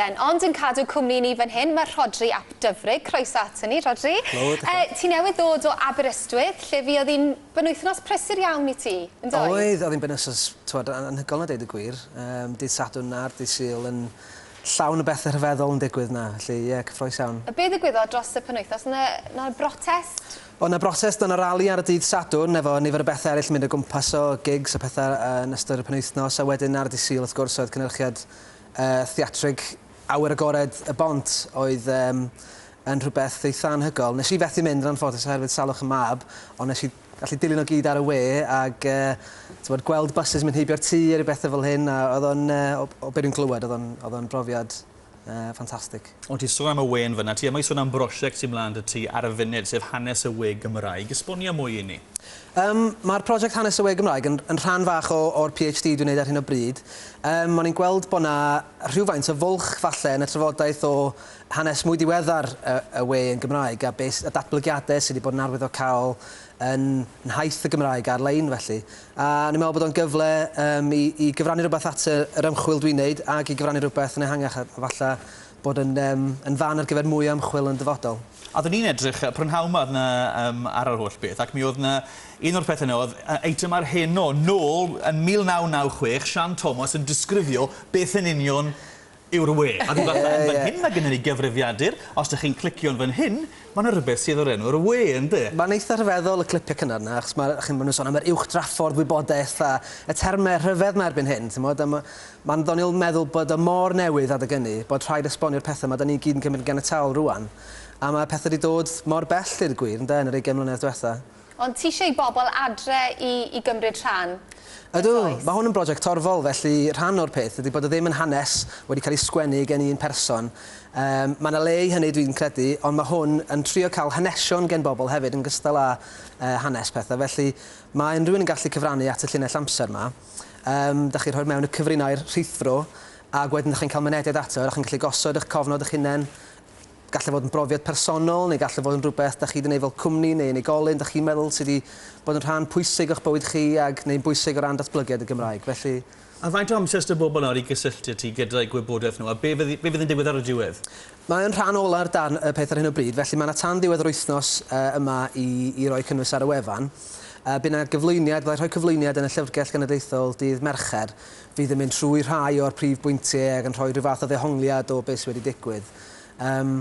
Ben ond yn cadw cwmni i ni fan hyn mae Rhodri ap Dyfrig, croeso ato ni Rhodri. Helo, diolch yn fawr. Ti newydd ddod o Aberystwyth lle fuodd un benwythnos prysur iawn i ti, yn doedd? Oedd, oedd hi'n benwythnos t'mod anhygoel a deud y gwir, yym dydd Sadwrn a'r dydd Sul yn llawn o bethe rhyfeddol yn digwydd 'na, felly ie cyffrous iawn. A be' ddigwyddodd dros y penwythnos, o' 'na o' 'na brotest? O' 'na brotest, o' 'na rali ar y dydd Sadwrn efo nifer o bethe eryll yn mynd o gwmpas o gigs a pethe yn ystod y penwythnos a wedyn ar y dydd Sul wrth gwrs oedd cynyrchiad Y theatrig Awyr Agored y Bont oedd um, yn rhywbeth eitha anhygol. Nes i fethu mynd yn anffodus oherwydd salwch y mab, ond nes i allu dilyn o gyd ar y we ac uh, gweld buses mynd heibio'r tŷ a rhyw bethau fel hyn, a oedd o'n, uh, o, o beth dwi'n glywed, oedd o'n brofiad uh, ffantastig. Ond ti'n sôn am y we yn fyna, ti yma i sôn am brosiect sy'n mlaen dy ti ar y funud, sef Hanes y We Gymraeg. Esbonia mwy i ni. Yym, mae'r project Hanes y We Gymraeg yn, yn rhan fach o, o'r PhD dwi'n neud ar hyn o bryd. Yym, o'n i'n gweld bod 'na rhywfaint o fwlch, falle, yn y trafodaeth o hanes mwy diweddar y, y we yn Gymraeg, a be, y datblygiadau sydd wedi bod yn arwyddocaol yn nhaith y Gymraeg ar-lein, felly. A o'n i'n meddwl bod o'n gyfle yym, i, i gyfrannu rhywbeth at y, yr ymchwil dwi'n neud, ac i gyfrannu rhywbeth yn ehangach, a, a falle bod yn yym yn fan ar gyfer mwy o ymchwil yn dyfodol. A oeddwn i'n edrych, y prynhawn 'ma o'dd 'na yym ar yr holl beth ac mi o'dd 'na un o'r pethe 'na o'dd yy eitemau'r hen o nôl yn 1996 Sian Thomas yn disgrifio beth yn union yw'r we. Ie ie. A ryw fath o yn fan hyn ma' gynnon ni gyfrifiadur os dych chi'n clicio yn fan hyn Ma' 'na rywbeth sydd o'r enw 'r we yndi? Mae'n eitha rhyfeddol y clipiau cynnar 'na achos ma' chi'n ma' nhw'n sôn am yr uwch draffordd wybodaeth a y termau rhyfedd 'ma erbyn hyn timod a ma' ma'n ddoniol meddwl bod o mor newydd adeg ynny bod rhaid esbonio'r pethe 'ma 'da ni gyd yn cymryd yn ganiataol rŵan a ma' pethe 'di dod mor bell deud y gwir ynde yn yr ugain mlynedd dwetha. Ond ti eisiau i bobl adre i i gymryd rhan, yn Ydw, does? mae hwn yn brosiect torfol, felly rhan o'r peth ydy bod o ddim yn hanes wedi cael ei sgwennu gen un person. Yym, mae yna le i hynny dwi'n credu, ond mae hwn yn trio cael hanesion gen bobl hefyd yn gystal â yy hanes pethau, felly mae unrhyw un yn gallu cyfrannu at y llinell amser 'ma. Yym, da chi'n rhoi'r mewn y cyfrinau'r rhithfro, ac wedyn da chi'n cael mynediad ato, da chi'n gallu gosod eich cofnod eich hunain, Gall e fod yn brofiad personol neu gall e fod yn rhywbeth da chi 'di neud fel cwmni neu unigolyn da chi'n meddwl sy 'di bod yn rhan pwysig o'ch bywyd chi ag neu'n bwysig o ran datblygiad y Gymraeg. Felly, A faint o amser s'da bobl nawr i gysylltu â ti gyda'u gwybodaeth nhw a be fydd be fydd yn digwydd ar y diwedd? Mae yn rhan ola'r darn y peth ar hyn o bryd felly mae 'na tan ddiwedd yr wythnos yy yma i i roi cynnwys ar y wefan. Yy by' 'na gyflwyniad fyddai rhoi cyflwyniad yn y Llyfrgell Genedlaethol dydd Mercher fydd yn mynd trwy rhai o'r prif bwyntie ag yn rhoi rhyw fath o ddehongliad o be sy wedi digwydd. Yym,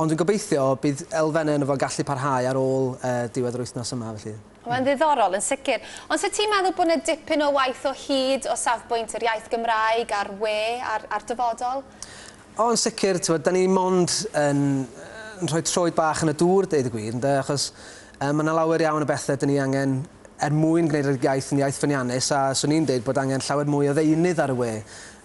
ond dwi'n gobeithio bydd elfennau yno fo'n gallu parhau ar ôl diwedd yr wythnos yma, felly. Mae'n ddiddorol, yn sicr. Ond 'set ti'n meddwl bod 'na dipyn o waith o hyd o safbwynt yr iaith Gymraeg a'r we a'r a'r dyfodol? O, yn sicr, t'mod, 'dan ni mond yn yn rhoi troed bach yn y dŵr, deud y gwir, ynde, achos yy ma' 'na lawer iawn o bethe 'dan ni angen er mwyn gwneud yr iaith yn iaith ffyniannus, a 'swn i'n deud bod angen llawer mwy o ddeunydd ar y we.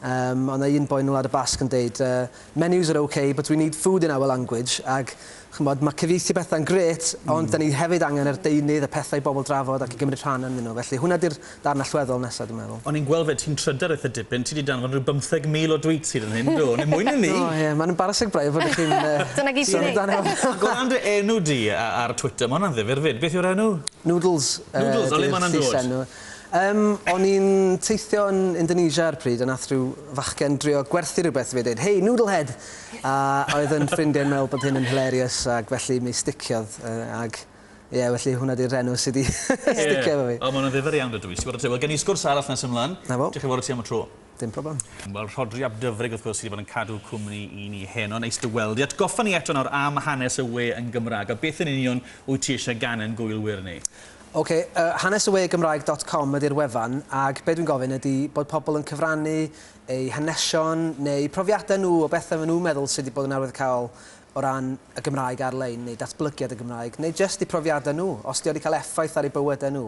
Yym, o' 'na un boi yn y Wlad y Basg yn deud yy Menus are ok but we need food in our language ag ch'mod ma' cyfieithu petha'n grêt ond 'dan ni hefyd angen yr deunydd y pethau i bobl drafod ac i gymryd rhan ynddyn nhw felly hwnna 'di'r darn allweddol nesa dwi'n meddwl. O'n i'n gweld 'fyd ti'n trydar eitha dipyn, ti 'di danfon rhyw bymtheg mil o dweets hyd yn hyn, do, neu mwy na 'ny! O ie, ma'n embarasing braidd fod y chi'n yy... Dyna gyd ti'n neud? Ag o ran dy enw di a- ar Twitter, ma' hwnna'n ddifyr 'fyd, beth yw'r enw? Noodles yy... Noodles, o le ma' hwnna'n dod? ...ydi'r llysenw. Yym, o'n i'n teithio yn Indonesia ar y pryd a nath rhyw fachgen drio gwerthu rhywbeth i fi a deud, Hey, noodle head! A oedd yn ffrindiau yn meddwl bod hyn yn hilarious ac felly mi sticiodd yy ag ie, felly hwnna di'r rhenw sy' 'di sticio efo fi. Ie, o ma' hwnna'n ddifyr iawn dydw i. Ti wbod oce, wel gen i sgwrs arall nes ymlan. 'Na fo. Diolch yn fawr i ti am y tro. Dim problem. Wel, Rhodri ap Dyfrig, wrth gwrs, sydd wedi bod yn cadw cwmni i ni heno. Neis dy weld i. Atgoffa ni eto nawr am hanes y we yn Gymraeg, a beth yn union wyt ti eisiau gan ein gwylwyr ni? Ok, uh, hanesywegymraeg.com ydy'r wefan, ac be dwi'n gofyn ydy bod pobl yn cyfrannu eu hanesion neu profiadau nhw o bethau maen nhw'n meddwl sydd wedi bod yn arwyddocaol o ran y Gymraeg ar-lein neu datblygiad y Gymraeg, neu jyst eu profiadau nhw, os ydy o wedi cael effaith ar eu bywydau nhw.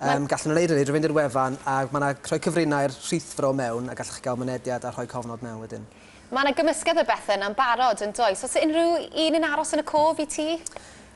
Yym, gallwn nhw wneud hynny drwy fynd i'r wefan a mae yna rhoi cyfrinau'r rhithfro mewn a gallwch chi gael mynediad a rhoi cofnod mewn wedyn. Mae yna gymysgedd o bethau yna'n barod, yn does? Oes unrhyw un yn aros yn y cof i ti?